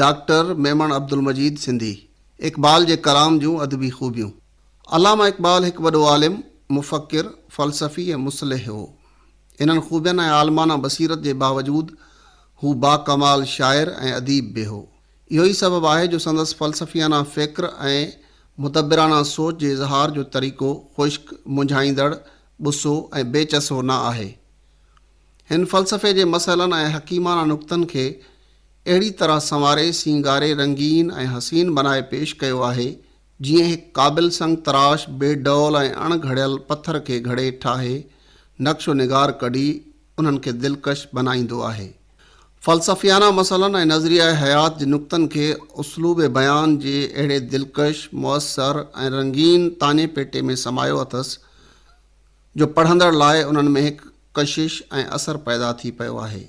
Doctor Memon Abdulmajid Sindhi Iqbal جي ڪلام جون ادبي خوبيون، علامه اقبال هڪ وڏو عالم، مفڪر، فلسفي ۽ مصلح هو. انهن خوبين ۽ عالمانه بصيرت جي باوجود هو باڪمال شاعر ۽ اديب به هو. اهو ئي سبب آهي جو سندس فلسفيانه فڪر ۽ مدبرانه سوچ جي اظهار جو طريقو خشڪ، منجهائيندڙ، غصو ۽ بي چسو نه آهي. هن فلسفي جي مسئلن ۽ حڪيمانه نقطن کي اهڙي طرح سنواري، سينگاري، رنگين ۽ حسين بنائي پيش ڪيو آهي، جيئن هڪ قابل سنگ تراش بي ڊول ۽ اڻ گهڙيل پٿر کي گهڙي ٺاهي، نقش و نگار ڪڍي، انهن کي دلڪش بنائيندو آهي. فلسفيانه مسئلن ۽ نظريه حيات جي نقطن کي اسلوب بيان جي اهڙي دلڪش، مؤثر ۽ رنگين تاڃي پيٽي ۾ سمايو اٿس، جو پڙهندڙ لاء انهن ۾ هڪ ڪشش ۽ اثر پيدا ٿي پيو آهي.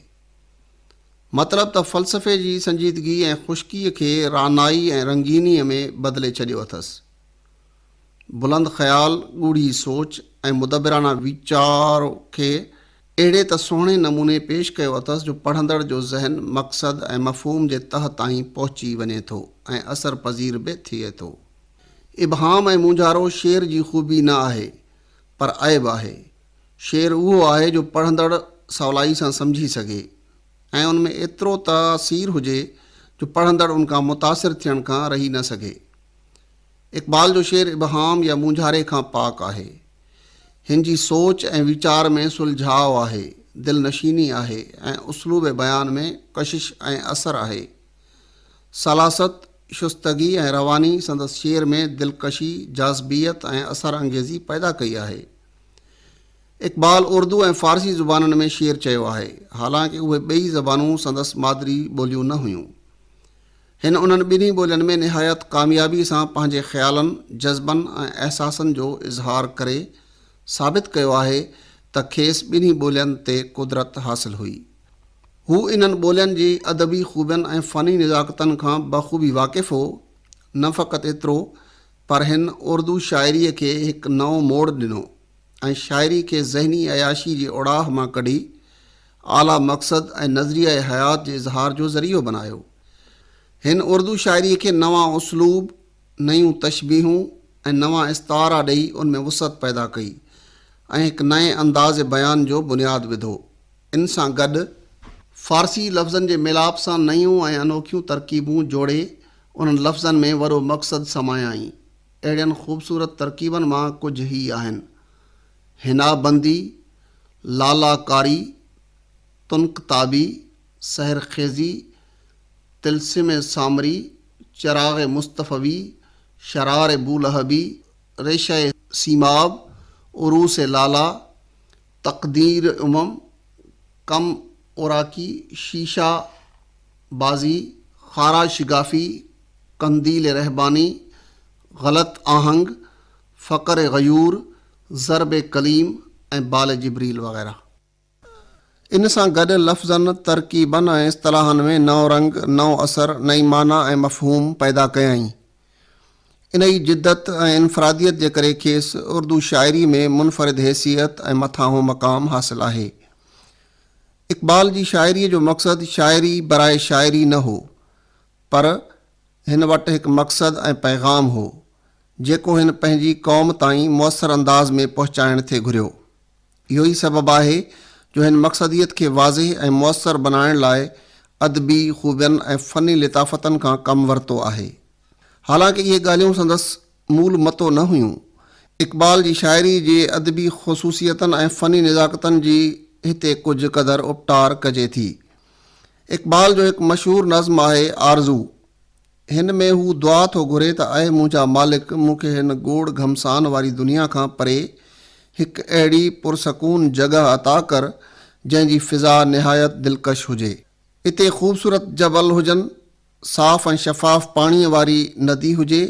مطلب ته فلسفي جي سنجيدگي ۽ خشڪيء کي رعنائي ۽ رنگينيء ۾ بدلي ڇڏيو اٿس. بلند خيال، ڳوڙهي سوچ ۽ مدبرانه ويچار کي اهڙي ته سهڻي نموني پيش ڪيو اٿس جو پڙهندڙ جو ذهن مقصد ۽ مفهوم جي تهه تائين پهچي وڃي ٿو ۽ اثر پذير به ٿئي ٿو. ابهام ۽ مونجهارو شعر جي خوبي نه آهي پر عيب آهي. شعر اهو آهي جو پڙهندڙ سولائي سان سمجهي سگهي ۽ ان ۾ ايترو تاثير هجي جو پڙهندڙ ان کان متاثر ٿيڻ کان رهي نه سگهي. اقبال جو شعر ابهام يا مونجهاري کان پاڪ آهي. هن جي سوچ ۽ ويچار ۾ سلجهاء آهي، دلنشيني آهي ۽ اسلوب بيان ۾ ڪشش ۽ اثر آهي. سلاست، شستگي ۽ رواني سندس شعر ۾ دلڪشي، جاذبيت ۽ اثر انگيزي پيدا ڪئي آهي. اقبال اردو ۽ فارسي زبانن ۾ شعر چيو آهي، حالانڪ اهي ٻئي زبانون سندس مادري ٻوليون نه هيون. هن انهن ٻنهي ٻولين ۾ نهايت ڪاميابي سان پنهنجي خيالن، جذبن ۽ احساسن جو اظهار ڪري ثابت ڪيو آهي ته کيس ٻنهي ٻولين تي قدرت حاصل هئي. هو انهن ٻولين جي ادبي خوبين ۽ فني نزاڪتن کان بخوبي واقف هو. نه فقط ايترو پر هن اردو شاعريء کي هڪ نئون موڙ ڏنو ۽ شاعري کي ذهني عياشي جي اوڙاهه مان ڪڍي اعليٰ مقصد ۽ نظريئه حيات جي اظهار جو ذريعو بنايو. هن اردو شاعريء کي نوان اسلوب، نيون تشبيهون ۽ نوان استعارا ڏئي ان ۾ وسعت پيدا ڪئي ۽ هڪ نئين انداز بيان جو بنياد وڌو. ان سان گڏ فارسي لفظن جي ميلاپ سان نيون ۽ انوکيون ترڪيبون جوڙي انهن لفظن ۾ وڏو مقصد سمايائين. اهڙين خوبصورت ترڪيبن مان ڪجهه هي آهن، حنا بندي، لالا ڪاري، تنڪ تابي، سحر خيزي، طلسم سامري، چراغ مصطفوي، شرار بولهبي، ريشه سيماب، عروس لالا، تقدير امم، ڪم اوراقي، شيشه بازي، خارا شگافي، قنديل رهباني، غلط آهنگ، فقر غيور، ضرب قليم ۽ بال جبريل وغيره. ان سان گڏ لفظن، ترڪيبن ۽ اصطلاحن ۾ نئون رنگ، نئون اثر، نئين معنيٰ ۽ مفهوم پيدا ڪيائين. انهيء جدت ۽ انفراديت جي ڪري کيس اردو شاعري ۾ منفرد حيثيت ۽ مٿانهون مقام حاصل آهي. اقبال جي شاعريء جو مقصد شاعري برائي شاعري نه هو، پر هن وٽ هڪ مقصد ۽ پيغام هو، جيڪو هن پنهنجي قوم تائين مؤثر انداز ۾ پهچائڻ ٿي گهريو. اهو ئي سبب آهي جو هن مقصديت کي واضح ۽ موثر بنائڻ لاء ادبي خوبين ۽ فني لطافتن کان ڪم ورتو آهي. حالانڪ اهي ڳالهيون سندس مول متو نه هيون. اقبال جي شاعري جي ادبي خصوصيتن ۽ فني نزاڪتن جي هتي ڪجهه قدر اپٽار ڪجي ٿي. اقبال جو هڪ مشهور نظم آهي آرزو. هن ۾ هو دعا ٿو گهري ته اي منهنجا مالڪ مون کي هن گوڙ گهمسان واري دنيا کان پري هڪ اهڙي پرسڪون جڳهه عطا ڪر جنهن جي فضا نهايت دلڪش هجي. اتي خوبصورت جبل هجن، صاف ۽ شفاف پاڻيء واري ندي هجي،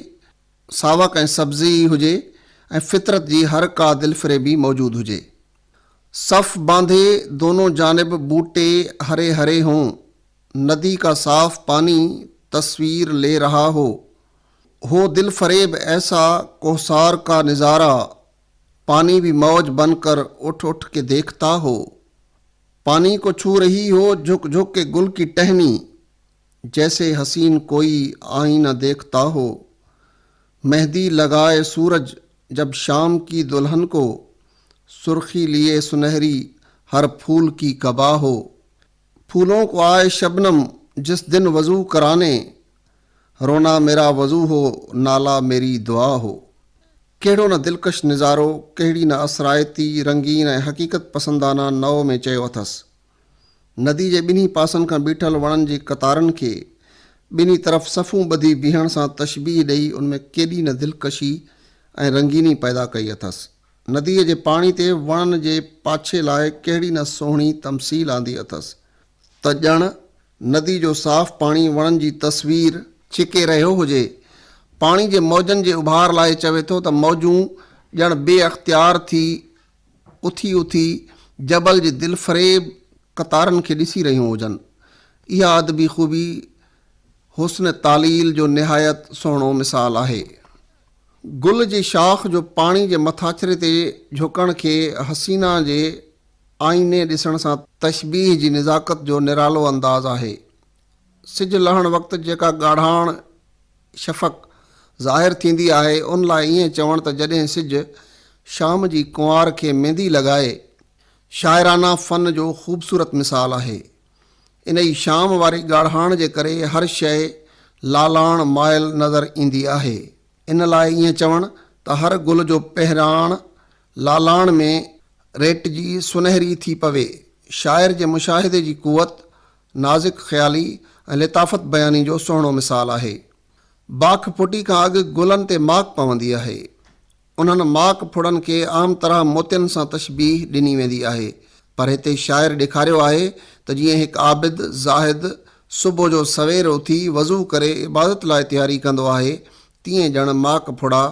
ساوڪ ۽ سبزي ئي هجي ۽ فطرت جي هر ڪا دلفريبي موجود هجي. صف باندي دونون جانب ٻوٽي هري هري هون، ندي ڪا صاف پاني تصوير لي رها هو هو دل فريب ايسا ڪوهسار ڪا نظارا پاني بي موج بن ڪر اٺ اٺ ڪي ديکتا هو پاني ڪو ڇو رهي هو جهڪ جهڪ ڪي گل ڪي ٽهني جيسي حسين ڪوئي آئينه ديکتا هو مهندي لگائي سورج جب شام ڪي دلهن ڪو سرخي ليي سنهري هر ڦول ڪي قبا هو ڦولون ڪو آئي شبنم جس دن وضو ڪرانے رونا ميرا وضو هو نالا ميري دعا هو ڪهڙو نه دلڪش نظارو ڪهڙي نه اثرائتي رنگين ۽ حقيقت پسندانه نوع ۾ چيو اٿس ندي جي ٻنهي پاسن کان بيٺل وڻن جي قطارن کي ٻنهي طرف صفون ٻڌي بيهڻ سان تشبيهه ڏئي ان ۾ ڪيڏي نه دلڪشي ۽ رنگيني پيدا ڪئي اٿس نديء جي پاڻي تي وڻن جي پاڇي لاء ڪهڙي نه سهڻي تمثيل آندي اٿس ته ڄڻ ندي جو صاف پاڻي وڻن جي تصوير ڇڪي رهيو هجي. پاڻي جي موجن جي اڀار لاء چوي ٿو ته موجون ڄڻ بي اختيار ٿي اٿي اٿي جبل جي دلفريب قطارن کي ڏسي رهيون هجن. اها ادبي خوبي حسن تعليل جو نهايت سهڻو مثال آهي. گل جي شاخ جو پاڻي جي مٿاڇري تي جهڪڻ کي حسينا جي آئيني ڏسڻ سان تشبيهه جي نزاڪت جو نرالو انداز آهي. سج لهڻ وقت جيڪا ڳاڙهاڻ شفق ظاهر ٿيندي آهي ان لاء ائين چوڻ ته جڏهن سج شام جي ڪنوار کي ميندي لڳائي شاعرانه فن جو خوبصورت مثال آهي. انهيء شام واري ڳاڙهاڻ جي ڪري هر شيء لالاڻ مائل نظر ايندي آهي. ان لاء ائين چوڻ ته هر گل جو پهراڻ لالاڻ ۾ ريٽجي سنهري ٿي پوي. شاعر جي مشاهدي جي قوت، نازڪ خيالي ۽ لطافت بياني جو سهڻو مثال آهي. باک ڦٽي کان اڳ گلن تي ماڪ پوندي آهي. انهن ماڪ ڦڙن کي عام طرح موتين سان تشبيهه ڏني ويندي آهي، پر هتي شاعر ڏيکاريو آهي ته جيئن هڪ عابد، زاهد، صبح جو سوير اٿي وضو ڪري عبادت لاء تياري ڪندو آهي، تيئن ڄڻ ماڪ ڦڙا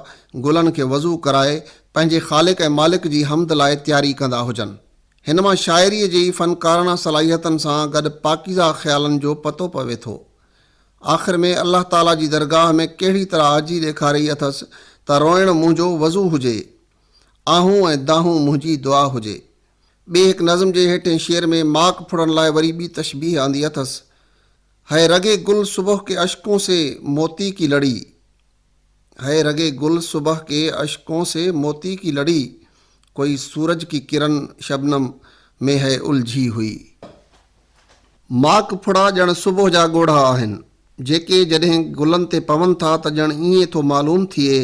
گلن کي وضو ڪرائي پنهنجي خالق ۽ مالڪ جي حمد لاء تياري ڪندا هجن. هن مان شاعريء جي فنڪاراڻا صلاحيتن سان گڏ پاڪيزه خيالن جو پتو پوي ٿو. آخر ۾ الله تعاليٰ جي درگاهه ۾ ڪهڙي طرح عاجزي ڏيکاري اٿس ته روئڻ منهنجو وضو هجي، آهون ۽ دانهون منهنجي دعا هجي. ٻئي هڪ نظم جي هيٺين شعر ۾ ماڪ ڦڙڻ لاء وري ٻي تشبيهه آندي اٿس، هي رڳي گل صبح ڪي اشڪون سي موتي ڪي لڙي. هي رڳي گل صبح ڪي اشڪون سي موتي ڪي لڙي، ڪوئي سورج ڪي ڪرن شبنم مين هي الجهي هئي. ماڪ ڦڙا ڄڻ صبح جا ڳوڙها آهن، جيڪي جڏهن گلن تي پون ٿا ته ڄڻ ائين ٿو معلوم ٿئي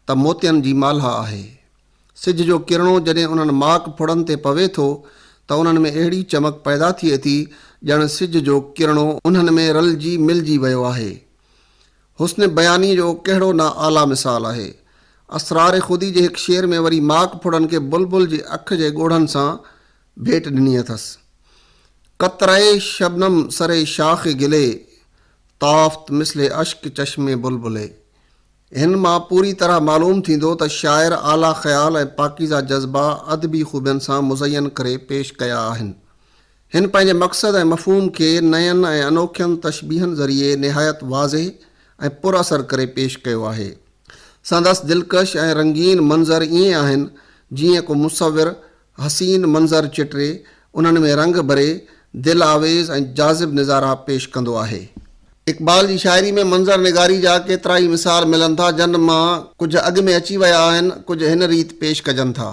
ته موتين جي مالها آهي. سج جو ڪرڻو جڏهن انهن ماڪ ڦڙن تي پوي ٿو ته انهن ۾ اهڙي چمڪ پيدا ٿئي ٿي ڄڻ سج جو ڪرڻو انهن ۾ رلجي ملجي ويو آهي. حسن بيانيء جو ڪهڙو نه اعليٰ مثال آهي. اسرار خودي جي هڪ شعر ۾ وري ماڪ ڦڙن کي بلبل جي اک جي ڳوڙهن سان ڀيٽ ڏني اٿس. قطرهء شبنم سري شاخ گلي، تافت مثل اشڪ چشم بلبلي. هن مان پوري طرح معلوم ٿيندو ته شاعر اعليٰ خيال ۽ پاڪيزه جذبا ادبي خوبين سان مزين ڪري پيش ڪيا آهن. هن پنهنجي مقصد ۽ مفهوم کي نين ۽ انوکين تشبيهن ذريعي نهايت واضح ۽ پر اثر ڪري پيش ڪيو آهي. سندس دلڪش ۽ رنگين منظر ائين آهن، جيئن ڪو مصور حسين منظر چٽري، انهن ۾ رنگ ڀري، دل آويز ۽ جاذب نظارا پيش ڪندو آهي. اقبال جي شاعري ۾ منظر نگاري جا ڪيترائي مثال ملن ٿا، جن مان ڪجهه اڳ ۾ اچي ويا آهن، ڪجهه هن ريت پيش ڪجن ٿا.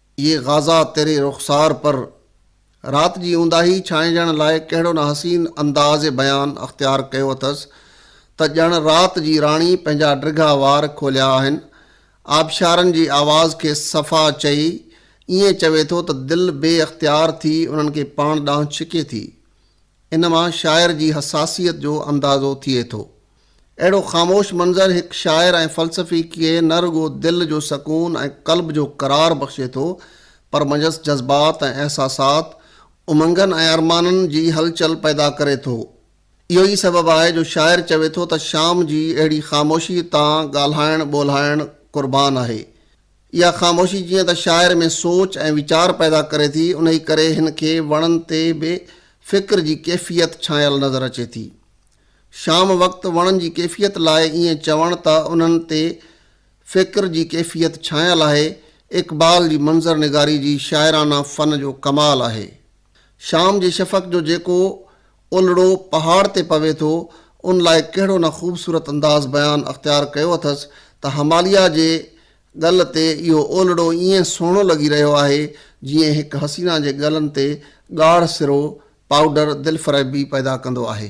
اي غازه تيري رخسار پر. رات جي اونداهي ڇانئجڻ لاء ڪهڙو نه حسين انداز بيان اختيار ڪيو اٿس ته ڄڻ رات جي راڻي پنهنجا ڊگها وار کوليا آهن. آبشارن جي آواز کي صفا چئي ائين چوي ٿو ته دل بي اختيار ٿي انهن کي پاڻ ڏانهن ڇڪي ٿي. ان مان شاعر جي حساسيت جو اندازو ٿئي ٿو. اهڙو خاموش منظر هڪ شاعر ۽ فلسفي کي نه رڳو دل جو سڪون ۽ قلب جو قرار بخشي ٿو پر منجهس جذبات ۽ احساسات، امنگن ۽ ارمانن جي هلچل پيدا ڪري ٿو. اهو ئي سبب آهي جو شاعر چوي ٿو ته شام جي اهڙي خاموشي تان ڳالهائڻ ٻولهائڻ قربان آهي. اها خاموشي جيئن ته شاعر ۾ سوچ ۽ ويچار پيدا ڪري ٿي، انهي ڪري هن کي وڻن تي به فڪر جي ڪيفيت ڇانيل نظر اچي ٿي. شام وقت وڻن جي ڪيفيت لاء ائين چوڻ ته انهن تي فڪر جي ڪيفيت ڇانيل آهي، اقبال جي منظر نگاري جي شاعرانه فن جو ڪمال آهي. شام جي شفق جو جيڪو اولڙو پهاڙ تي پوي ٿو، ان لاء ڪهڙو نه خوبصورت انداز بيان اختيار ڪيو اٿس ته هماليا جي ڳل تي اهو اولڙو ائين سهڻو لڳي رهيو آهي، جيئن هڪ حسينا جي ڳلن تي ڳاڙهه سرو، پائوڊر، دلفريبي پيدا ڪندو آهي.